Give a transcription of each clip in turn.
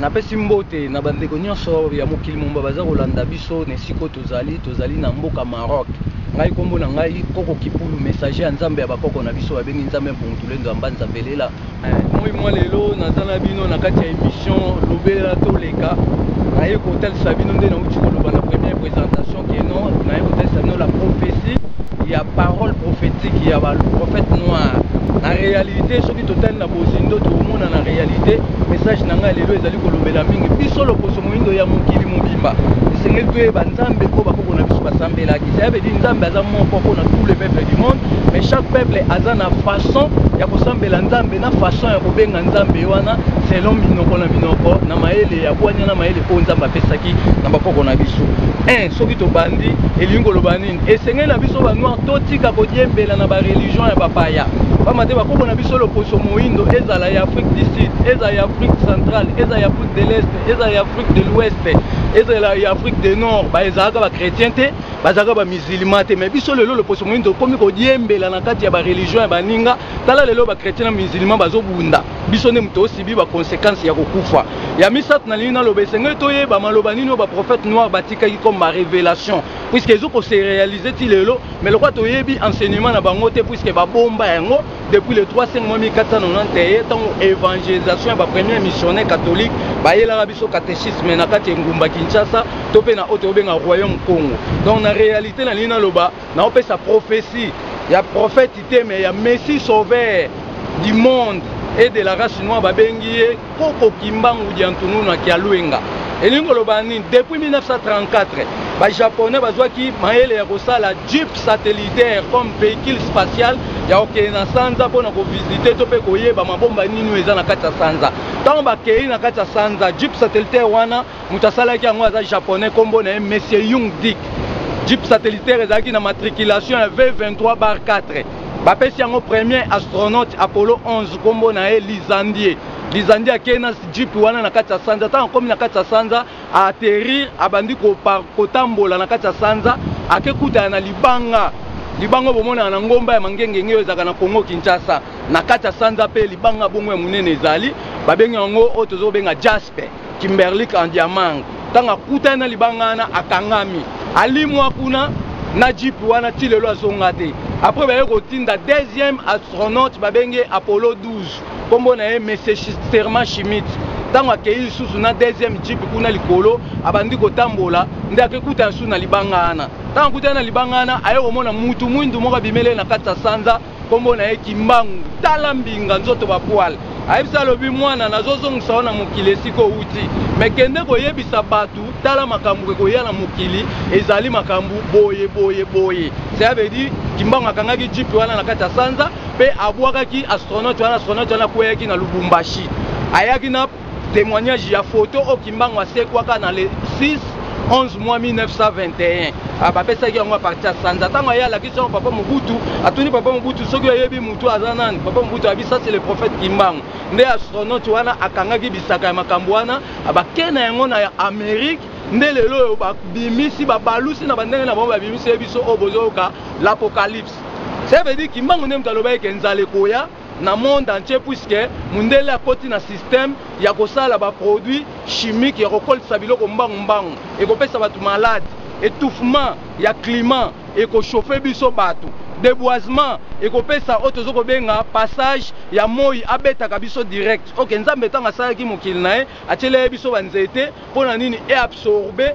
napesi mbote na bandeko nyonso ya mokili momba baza kolanda biso na esika oyo tozali tozali na mboka maroc ngai nkombo na ngai koko kipulu messager ya nzambe ya bakoko na biso babengi nzambe mpungutulendo ya mbanza belela eh, moi mwa lelo naza na bino na kati ya emission lobela toleka naye kotalisa bino nde nauti koloba na présentation que non naye kotesa bino la prophétie ya parole prophétique ya baprophète noir na réalité soki totali na bozindo tokomona na réalité message na ngai lelo ezali kolobela mingi biso loposo moindo ya mokili mobimba esengeli toyeba nzambe oyo bakoko na biso basambelaki cela veut dire nzambe aza moko mpo na tous les peuples du monde mais chaque peuple aza na façon ya kosambela nzambe na façon ya kobenga nzambe wana selon minoko na minoko na mayele ya bwania na mayele oyo nzambe apesaki na bakoko na biso un soki tobandi elingi koloba nini esengeli na biso banoir totika kodiembela na bareligion ya bapaya pamba te bakoko na biso loposo moindo ezala ya afrique du sud ezala ya afrique centrale ezala ya afrique de l'est ezala ya afrique de l'ouest ezala ya afrique de nord baezalaka bachrétien te bazalaka bamusilma te mai biso lelo loposo moindo tokomi kodiembela na kati ya bareligion ya baninga tala lelo bachrétien na musilma bazobunda biso nde moto osibi baconsequence ya kokufa ya misato na lingi naloba esengeli toyeba maloba nini oyo baprophète noir batikaki comme barévélation puiske ezo kose réalise ti lelo mais lokwa toyebi enseignement na bango te puiske babomba yango depuis le 35 mois 1490 eye ntango évangélisation ya bapremier missionnaire catholique bayelaka biso catéchisme na kati ya engumba kinshasa to mpe na oyo tobenga royaume congo donc na réalité na lingi naloba naopesa prophetie ya prophète te mais ya messie sauveur du monde et de la race noire babengi ye koko kimbangu diantununu ya kialuenga elingi koloba nini depuis 1934 bajaponais bazwaki mayele ya kosala jeep satellitaire comme véhicule spatial ya kokende na sanza mpo na kovisite to mpe koyeba mabomba nini oyo eza na kati ya sanza ntango bakei na kati ya sanza jeep satellitaire wana moto asalaki yango aza japonais nkombo na ye monsieur yung dick jeep satellitaire ezalaki na matriculation ya v23 bar 4 bapesi yango premier astronaute apollo 11 nkombo na ye lizandie lizandie akei na jeep wana na kati ya sanza ntango akomi na kati ya sanza aaterrir abandi kotambola na kati ya sanza akekutana na libanga libanga bomonaka na ngomba ya mangengenge oyo ezalaka na congo kinshasa na kati ya sanza mpe libanga bongo ya monene ezali babengi yango oyo tozobenga jaspe Kimberlick Andiamang ntango akutani na libanga wana akangami alimwa kuna na jeep wana ti lelo azonga te après baye kotinda deuxième astronaute babengi ye apollo 12 nkombo na ye monsieur serment schmidt ntango akei lisusu na deuxième jeep kuna likolo abandi kotambola nde akekuta lisusu na libanga wana ntango akutani na libanga wana aye komona mutu mwindu moko abimeli ye na kati ya sanza nkombo na ye kimbangu tala mbinga nzoto bapwale ayebisa alobi mwana nazozongisa yo na mokili esika owuti me kende koyebisa bato tala makambo ekoya na mokili ezali makambo boye boye boye cela veut dire kimbangu akangaki jipe wana na kati ya sanza mpe abwakaki astronaute wana astronaute wana akweyaki na lubumbashi ayaki na Témoignage ya photo oyo Kimbangu asekwaka na le 6 11 mois 1921 ah, bapesaki yango aparti ya sanza ntango aye alakisi yango papa mobutu atuni papa mobutu soki oyebi motu aza nani papa mobutu ayebi sasi le prophète kimbangu nde astronaute wana akangaki bisaka ya makambo wana ah, bake na yango na amérique nde lelo oyo babimisi babalusi na bandenge na bango babimisi ye biso oyo bozoyoka l'apocalypse ça veut dire kimbangu nde moto alobaki ke nzala ekoya na monde entier puisque mundele akoti na système ya kosala ba produits chimiques ya kokolisa biloko mbangu mbangu ekopesa bato malade étouffement ya climat ekochauffe biso bato deboisement ekopesa oyo tozo kobenga passage ya moi abetaka biso direct ok nzambe ntango asalaki mokili na ye atyelaki biso banzete mpo na nini eabsorbe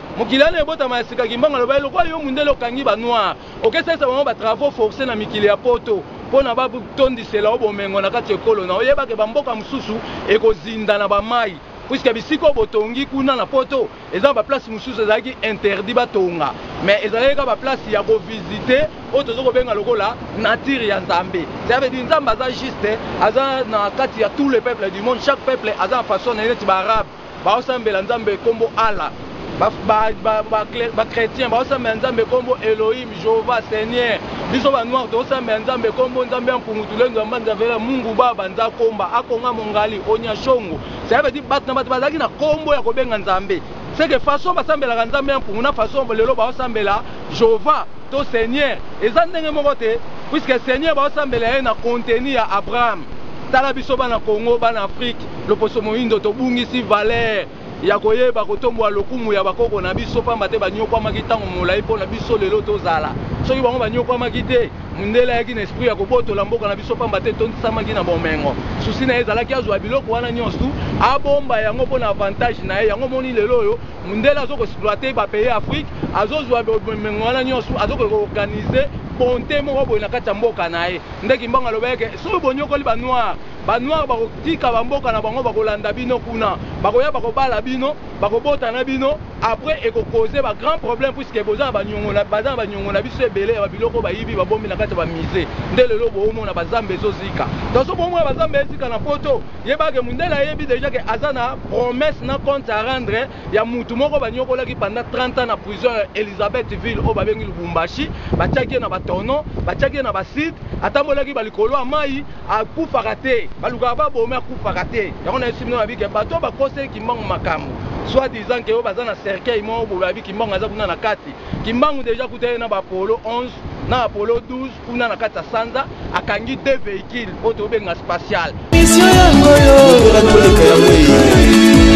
mokili wana ebotama ya sika kimbangu alobaki lokola yo mundele okangi ba noir okesalisa bango ba travaux forcé na mikili ya poto mpo na batondisela yo bomengo na kati ya ekolo na oyeba ke bamboka mosusu ekozinda na bamai puiske bisika oyo botongi kuna na poto eza na baplace mosusu ezalaki interdit batonga mais ezalaki kaka baplace ya kovisite oyo tozo kobenga lokola nature ya nzambe cest veut dire nzambe aza juste aza na kati ya tout le peuple du monde chaque peuple aza na façon na ye neti baarabe Baosambela Nzambe kombo Allah. Ba, ba, ba, ba, ba chrétiens baosambela Nzambe kombo Elohim, Jehovah, Seigneur. Biso ba noir toosambela Nzambe kombo Nzambe ya Mpungu Tulendo ya Mbanza Vela Mungu Baba Nzakomba Akonga Mongali Onyashongo. Cela veut dire bato na bato bazalaki na kombo ya kobenga Nzambe. C'est que façon basambelaka Nzambe ya Mpungu na façon lelo baosambela Jehovah to Seigneur eza ndenge moko te puisque Seigneur baosambela ye na contenu ya Abraham. Tala biso bana Congo, bana Afrique. Loposo moindo, tobungisi valere ya koyeba kotombola lokumu ya bakoko na biso, mpamba te banyokwamaki ntango molai mpo na biso lelo tozala. Soki bango banyokwamaki te, mundele ayaki na esprit ya kobotola mboka na biso, mpamba te etondisamaki na bomengo. Souci na ye ezalaki azua biloko wana nionstu, abomba yango mpo na avantage na ye. Yango omoni lelo oyo mundele azo ko exploiter ba pays Afrique, azo zua bomengo wana nionstu, azo ko organiser bonte moko boye na kati ya mboka na ye. Nde Kimbangu alobaki ke, soki bonyokoli ba noirs, Ba noir bako tika ba mboka na bango bako landa bino kuna bakoya bako bala bino bako bota na bino après eko cause ba grand problème puisque boza na ba niongo na baza na ba niongo na biso ebele ya ba biloko ba yibi ba bombi na kati ya ba musee nde lelo bo omona ba zamba ezo zika donc soki bo omona ba zamba ezika na poto yeba ke mundele ayebi dejà ke aza na promesse na compte a rendre ya mutu moko ba niokolaki pendant 30 ans na prison ya Elisabeth ville oyo ba bengi Lubumbashi ba tiaki ye na ba tonneaux ba tiaki ye na ba cide atambolaki ba likolo ya mayi akufaka te balukaka babomi akufaka te yango nayesu bino babi ke bato oyo bakoseli kimbangu makambo soit disant ke oyo baza na cercueil moko boye babi kimbangu aza kuna na kati kimbangu deja kuta ye na bapolo 11 na apollo 12 kuna na kati ya sanza akangi deux véhicules oyo tobenga spatial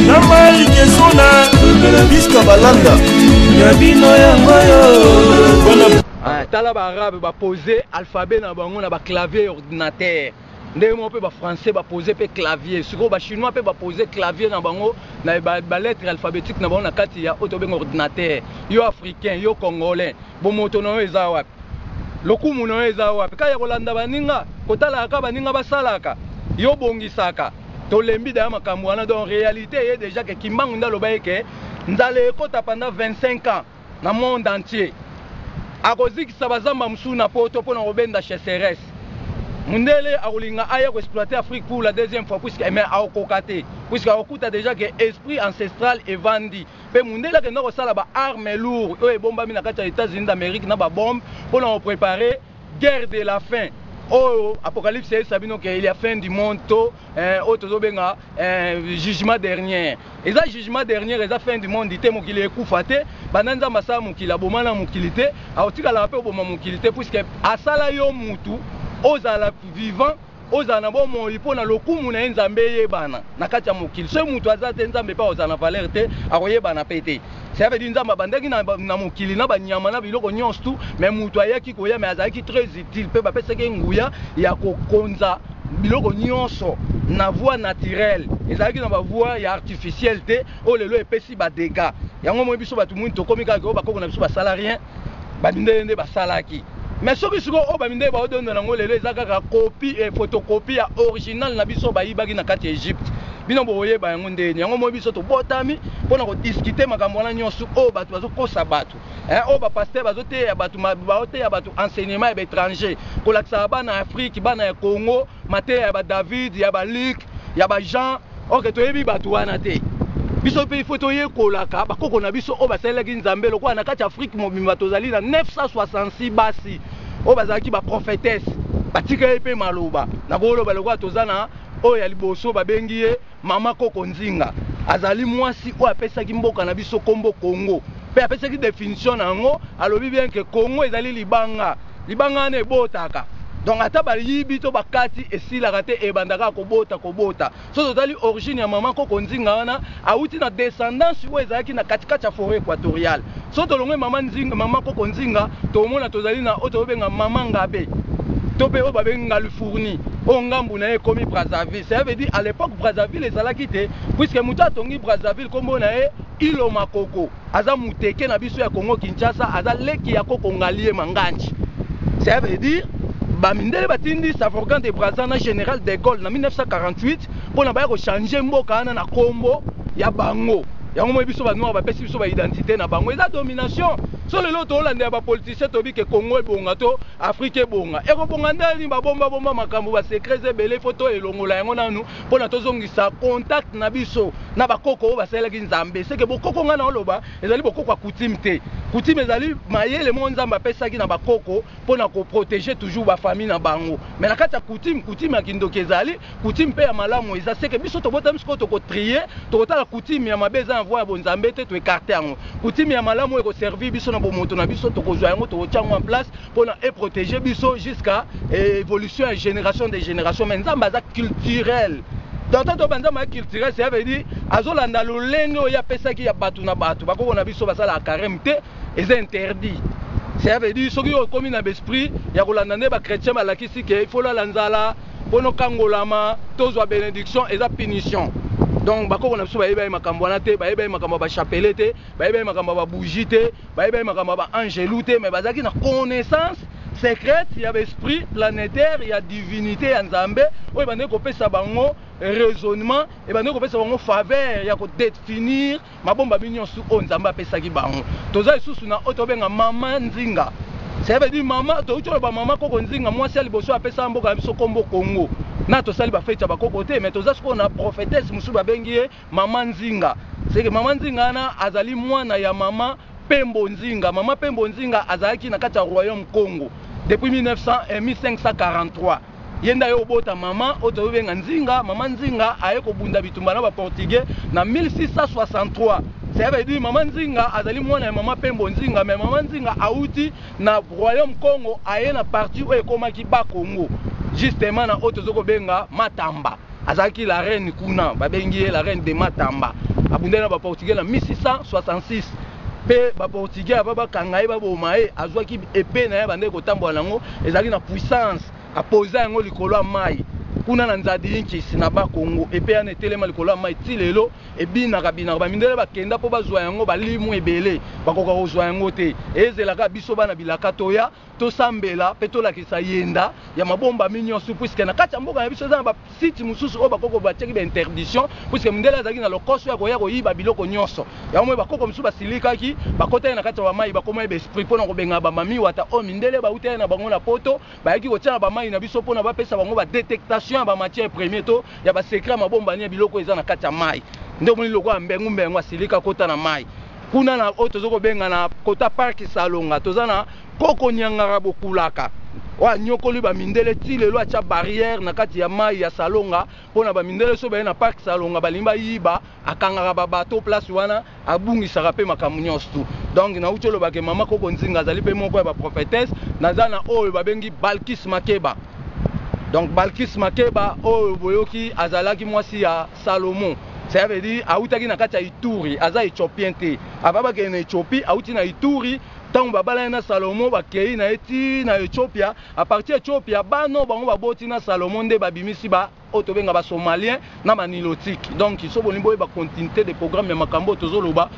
na mai kesona biska balanda ya bino yango yo Hein tala ba arabe ba pose alphabet na bango na ba clavier ya ordinateur ndenge moko pe ba français ba pose pe clavier sikoyo ba chinois pe ba pose clavier na bango na ba lettre alphabetique na bango na kati ya oyo tobenga ordinateur yo africain yo congolais bomoto na yo eza wapi lokumu na yo eza wapi kaka ya kolanda baninga kotalaka kaka baninga basalaka yo obongisaka tolembi daya makambo wana donc realite eye dejà ke kimbangu nde aloba ye ke nzala ekota pendant 25 ans na monde entier akozikisa ba zamba mosusu na poto pona kobenda cheseresse mundele akolinga aya ko exploiter Afrique pour la deuxième fois puisque mais akokoka te puisque akokuta dejà que esprit ancestral evandi pe mundele akenda kosala ba armes lourd oyo ebombami na kati ya Etats-Unis d'Amerique na ba bombe pona ko preparer Guerre de la fin oyo apocalypse ayebisa bino ke il ya fin du monde to eh, oyo tozobenga eh, jugement dernier eza jugement dernier eza fin du monde te mokili ekufa te banda nzambe asala mokili aboma na mokili te akotikalaka mpe oboma mokili te puiske asala yo mutu ozala vivant Ozala na bomoi mpo na lokumu na ye, Nzambe eyebana na kati ya mokili. Soki moto aza te, Nzambe mpe akozala na valeur te, akoyebana mpe te. Cela veut dire Nzambe abandaki na na mokili na ba nyama na biloko nionso tout, mais moto ayaki koya mais azalaki très utile mpe bapesaki ye nguya ya kokonza biloko nionso na voie naturelle, ezalaki na ba voie ya artificielle te oyo lelo epesi ba degats. Yango omoni biso batu muindu tokomi kaka ke oyo bakoko na biso basala rien. ba mindele nde basalaki mais soki sikoyo oyo ba mindele baodondo nango lelo eza kaka copie et photocopie ya original na biso bayibaki na kati ya Egypte bino bokoyeba yango ndenge nini yango moi biso tobotami mpo na kodiscute makambo wana nyonso oyo bato bazokosa bato eh, oyo bapaster bazoteya bato baoteya bato enseignement ya baétranger kolakisaka bana ya afrike bana ya congo mateya ya ba David ya ba Luc ya ba Jean ok toyebi bato wana te biso mpe ifo toyekolaka bakoko na biso oyo basalelaki nzambe lokola na kati ya afrike mobimba tozali na 966 basi oyo bazalaki baprofetese batikali mpe maloba nakoloba lokola toza na oyo ya liboso babengi ye Mama Koko Nzinga azali mwasi oyo apesaki mboka na biso kombo Congo mpe apesaki definition na yango, alobi bien que Congo ezali libanga, libanga wana ebotaka donc ata bayibi to bakati esilaka te ebanda kaka kobota kobota. Soki totali origine ya Mama Koko Nzinga wana awuti na descendance oyo ezalaki na kati kati ya foret equatorial. Soki tolongoli mama Nzinga, mama koko Nzinga, tokomona tozali na oyo tozobenga mama Ngabe, to pe oyo babengi Ngalu Fourni, oyo ngambu na ye ekomi Brazzaville. Cela veut dire à l'epoque Brazzaville ezalaki te, puisque mutu atongi Brazzaville kombo na ye Iloma Koko, aza muteke na biso ya Kongo-Kinshasa, aza leki ya koko Ngalie Manganji. Cela veut dire ba mindele batindi Savorgant de Brazza na General de Gaulle na 1948, pona baya ko changer mboka wana na kombo ya bango yango moi biso ba noir bapesi biso ba identite na bango eza domination so lelo toolandela ba politicien toyebi ke congo ebonga to afrique ebonga ekobonga ndenge nini babomba bomba makambo ba secret eza ebele ifo to elongola yango nanu mpona tozongisa contact na biso na bakoko oyo basalelaki nzambe seke bokoko ngai na oloba ezali bokoko ya kutime te kutime ezali mayele moko nzambe apesaki na bakoko mpona koprotege toujours bafamille na bango me na kati ya kutime kutime ya kindoki ezali Coutume pe ya malamu eza ce que biso tobotami sikoyo toko trier tokotala coutume ya mabe eza na voie ya bonzambe te to ecarte yango coutume ya malamu eko servir biso na bomoto na biso tokozwa yango tokotia yango en place pona e protéger biso jusqu'à évolution ya génération de génération mais nzambe aza culturel tata to banza ma culturel c'est veut dire azolanda lolenge oyo apesaki ya bato na bato bakoko na biso basalaka carême te eza interdit c'est veut dire soki okomi na besprit ya kolanda nde ba chrétien balakisi ke ifola la nzala Mpo nokangolama, tozwa benediction, eza punition. Donc bakoko na biso bayebaki makambo wana te, bayebaki makambo ya ba chapelet te, bayebaki makambo ya ba bougie te, bayebaki makambo ya ba angelou te, mais bazalaki na connaissance secrète ya ba esprit planetaire ya divinite ya Nzambe oyo ebandaki kopesa bango raisonnement, ebandaki kopesa bango faveur ya ko definir Mabombami nionsu oyo Nzambe apesaki bango. Toza lisusu na oyo tobenga mama nzinga. Cela veut dire mama, toki toloba mama koko nzinga, mwasi ya liboso apesa mboka na biso kombo Congo. Na tosali ba feti ya ba koko te, mais toza sikoyo na prophetesse mosusu babengi ye mama nzinga. C'est que mama nzinga wana azali mwana ya mama Pembo Nzinga. Mama Pembo Nzinga azalaki na kati ya royaume Congo depuis 1900, eh, 1543. Ye nde aye kobota mama oyo tozo benga Nzinga, mama Nzinga aye kobunda bitumba na ba portugais na 1663. Cela veut dire mama Nzinga azali mwana ya mama Pembo Nzinga mais mama Nzinga awuti na royaume Kongo aye na partie oyo ekomaki Bas Kongo justement na oyo tozo kobenga Matamba. Azalaki la reine kuna, babengi ye la reine de Matamba. Abundaki na ba portugais na 1666. mpe ba portugais avant bakanga ye baboma ye azwaki epee na ye abandaki kotambola na yango ezalaki na puissance apoza yango likolo ya mayi kuna na nzadiinkisi na bas congo epee wana etelema likolo ya mayi ti lelo ebinaka binaka bamindele bakenda mpo bazwa yango balimu ebele bakoka kozwa yango te ezela kaka biso bana bilaka toya Tosambela mpe tolakisa yenda ya mabombami nionsu puisque na kati ya mboka na biso eza na ba sites mosusu oyo ba koko batiaki ba interdition puisque mundele azalaki na lokoso ya koya koyiba biloko nionso yango moye ba koko mosusu basilikaki bakotaki na kati ya ba mayi bakomaki ba esprit mpo na kobengana ba mami wata oyo mindele bawutaki na bango na poto bayaki kotia na ba mayi na biso mpo na bapesa bango ba detectation ya ba matière premier to ya ba secret ya mabombani ya biloko oyo eza na kati ya mayi nde omoni lokola mbengu mbengu asilika akota na mayi Kuna na oyo tozo kobenga na kota parc salonga toza na koko niangara bokulaka oyo aniokoli ba mindele ti lelo atia barrière na kati ya mayi ya salonga pona ba mindele soki baye na parc salonga balingi bayiba akangaka ba bateau place wana abungisaka pe makambo nionso tout donc nawuti oloba ke mama koko nzinga azali pe moko ya ba prophetesse naza na oyo babengi balkis makeba donc balkis makeba oyo boyoki azalaki mwasi ya Salomo cela veut dire awutaki na kati ya Ituri, aza Ethiopien te. Avant bakende na Ethiopie, awuti na Ituri, ntango babalani na Salomo, bakei na ye ti na Ethiopia. A partir ya Ethiopia, bana oyo bango baboti na Salomo nde babimisi ba oyo tobenga ba Somaliens na ba Nilotiques. Donc, soki bolingi boyeba continuite de programme ya makambo oyo tozoloba,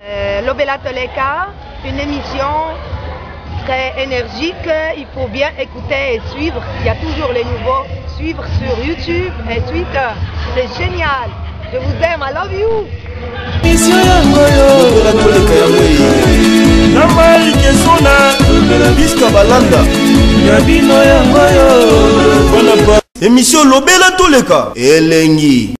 Euh, Lobela Toleka, une émission très énergique. Il faut bien écouter et suivre. Il y a toujours les nouveaux. Suivre sur YouTube et Twitter. C'est génial. Je vous aime. I love you. Mission yango yo. Lobela Toleka yango ye. Na mai kesona. Lobela Biska Balanda. Ya bino yango yo. Bana ba. Emission Lobela Toleka. Elengi.